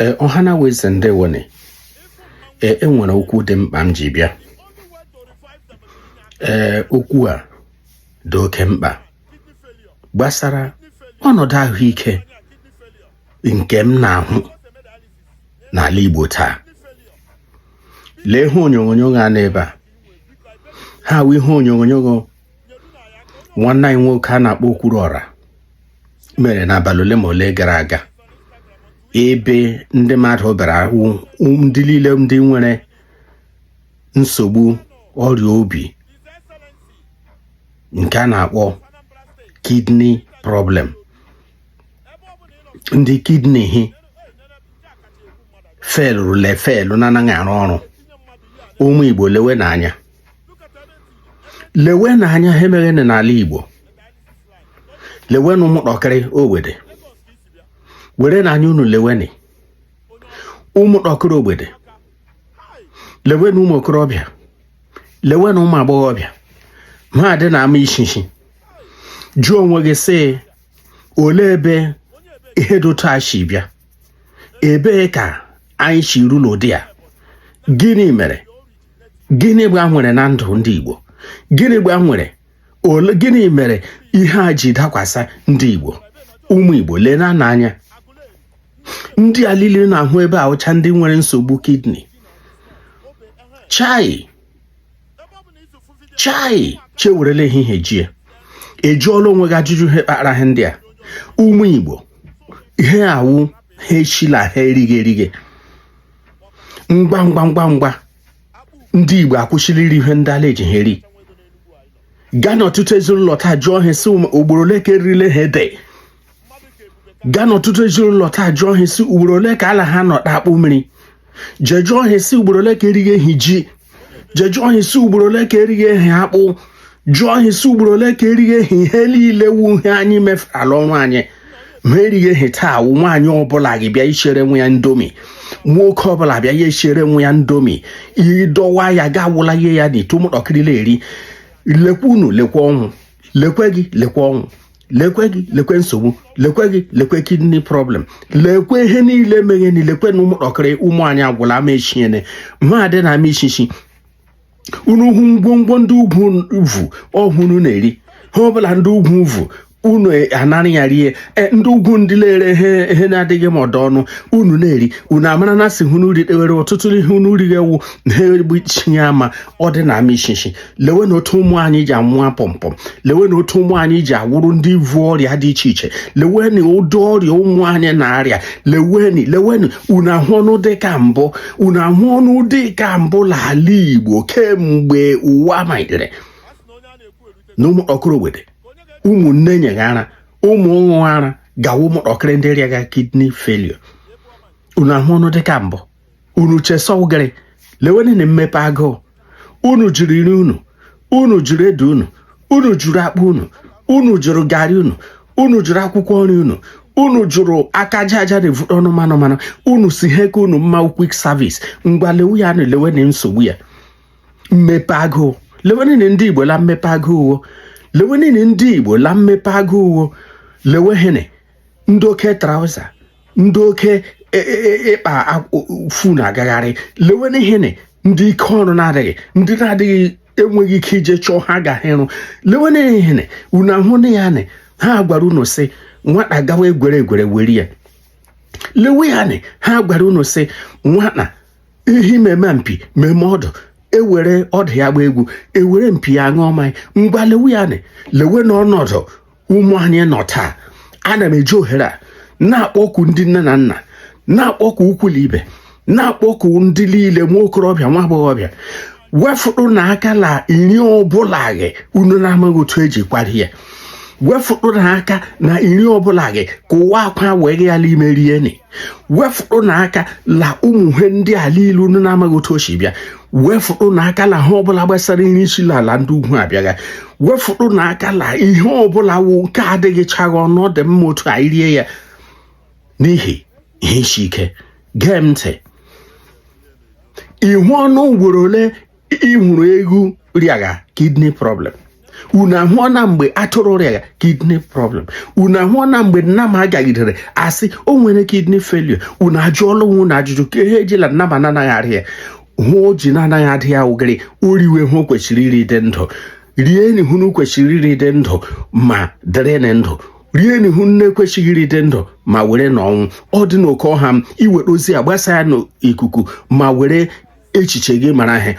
ee ọha na eze ndewonụ ee enwere okwu dị mkpa m ji bịa ee okwu a dị oke mkpa gbasara ọnọdụ ahụike nke m na-ahụ n'ala Igbo taa lee ihe onyonyo a n'ebe a ha wụ ihe onyonyo nwanne anyị nwoke a na-akpọ Okwuruọra mere n'abalị ole ma ole gara aga ebe ndị mmadụ bịara hụ ndị niile ndị nwere nsogbu ọrịa obi nke a na-akpọ kidney problem ndị kidney ha failụrụla fail na-anaghị arụ ọrụ ụmụ Igbo lewenụ anya lewenụ anya ihe meghe n'ala Igbo lewenụ ụmụtakịrị ogbede werenụ anya unu lewenị ụmụtakịrị ogbede lewenụ ụmụ okorobịa lewenụ ụmụ agbọghọbịa ha dị na ama ishishi jụọ onwe gị sị olee ebe ihe dị otu a si bịa ebee ka anyị si ruru ụdị a gịnị mere gịnị gbanwere na ndụ ndị Igbo gịnị gbanwere olee gịnị mere ihe a ji dakwasa ndị Igbo ụmụ Igbo leenụ anya ndị a niile ị na-ahụ ebe a wụcha ndị nwere nsogbu kidney chai chai chi ewerela ehihie jie ị jụọla onwe gị ajụjụ ihe kpara ihe ndị a ụmụ Igbo ihe a wụ ihe shi la ihe erighe erighe ngwa ngwa ngwa ngwa ndị Igbo akwụsịla iri ihe ndị ala eji ha eri gaa n'ọtụtụ ezinụlọ taa jụọ ha sị ugboro ole ka erile ha ede gaa n'ọtụtụ ezinụlọ taa jụọ ha sị ugboro ole ka ala ha nọ akpụ mmiri jee jụọ ha sị ugboro ole ka erighe hị ji jee jụọ hị sị ugboro ole ka erighe hị akpụ jụọ hị sị ugboro ole ka erighe hị ihe niile wụ ihe anyị mefurala ọnụ anyị ma erighe hị taa wụ nwaanyị ọbụla gị bịa ishiere nwa ya Indomie nwoke ọbụla bịa ya eshiere nwa ya Indomie ịdọwa ya ga awụla ihe ya na ito ụmụntakịrị na-eri lekwa unu lekwa ọnwụ lekwe gị lekwa ọnwụ lekwe gị lekwe nsogbu lekwe gị lekwe kidney problem lekwe ihe niile meghenị lekwenụ ụmụtakịrị ụmụ anyị agwụla ama echiene ma adị na ama ichichi unu hụ ngwongwo ndị ugwu vuru unu na-eri ihe ọbụla ndị ugwu vuru unu anara ya rie e, ndị ugwu ndị na-ere ihe ihe na-adịghị mma ọdọ ọnụ unu na-eri unu amara na si hụ n'uri dewere ọtụtụ ihe unu righe wụ ihe egbuchi ya ama ọ dị na ama ichichi lewe na otu ụmụ anyị ji anwụ apọmpọm lewe na otu ụmụ anyị ji awụrụ ndị vu ọrịa dị iche iche lewe na ụdị ọrịa ụmụ anyị na-arịa leweni leweni unu ahụọna ụdị ka mbụ unu ahụọna ụdị ka mbụ n'ala Igbo kemgbe ụwa malitere na ụmụ ọkụrụwede ụmụ nne nyegha ara ụmụ ṅụ ara gawa ụmụntakịrị ndị rịagha kidney failure unu ahụọna ụdị ka mbụ unu che sị ọ gịrị lewenụ na mmepe agụụ unu jụrụ nri unu unu jụrụ ede unu unu jụrụ akpụ unu unu jụrụ garị unu unu jụrụ akwụkwọ nri unu unu jụrụ aka aja aja na-evu ọnụ mmanụ mmanụ unu sị ha ka unu mma quick service ngwa lewe ya na lewe na nsogbu ya mmepe agụụ lewe niile ndị igbo la mmepe agụụ uwo lewe niile ndị igbo la mmepe agụụ uwo lewe hene ndị oke trouser ndị oke e, e, e, ịkpa fu na-agagharị lewe n'ihe na ndị ike ọrụ na-adịghị ndị na-adịghị enweghị ike ije chọọ ha agaghị ịrụ lewe n'ihe na unu ahụ na ya na ha gwara unu sị nwata gawa egwere egwere were ya lewe ya na ha gwara unu sị nwata ehi meme mpi meme ọdụ e were ọdụ ya gbaa egwu e were mpi ya ṅụọ mmanya ngwa lewe ya na lewe na ọnọdụ ụmụ anyị nọ taa ana m eji ohere a na-akpọ oku ndị nne na nna na-akpọ oku ikwu la ibe na-akpọ oku ndị niile nwa okorobịa nwa agbọghọbịa wefụrụ na aka na iri ọbụla gị unu na-amaghị otu e ji kwari ya wefụrụ na aka na iri ọbụla gị ka ụwa akwa wee gị ya n'ime rie ni wefụrụ na aka la ụmụ ihe ndị a lile unu na-amaghị otu o si bịa wefụrụ na aka la ihe ọbụla gbasara ihe si la ala ndị ugwu abịagha wefụrụ na aka la ihe ọbụla wụ nke adịghị chagha ọnụ ọ dị mma otu anyị rie ya n'ihi ihe isi ike gee m ntị ị hụọna ugboro ole ị hụrụ ewu rịagha kidney problem unu ahụọna mgbe atụrụ rịagha kidney problem unu ahụọna mgbe nnama gagidere a sị o nwere kidney failure unu ajụọla onwe unu ajụjụ ka ihe ejila nnama na-anaghị arịa ya ihe o ji na-anaghị arịa ya wụ gịrị o riwe ihe o kwesịrị iri dị ndụ rienụ ihe unu kwesịrị iri dị ndụ ma dịrịnụ ndụ rienụ ihe unu na-ekwesịghị iri dị ndụ ma werenụ ọnwụ ọ dị n'oke ọha m i were ozi a gbasa ya n'ikuku ma were echiche gị mara ihe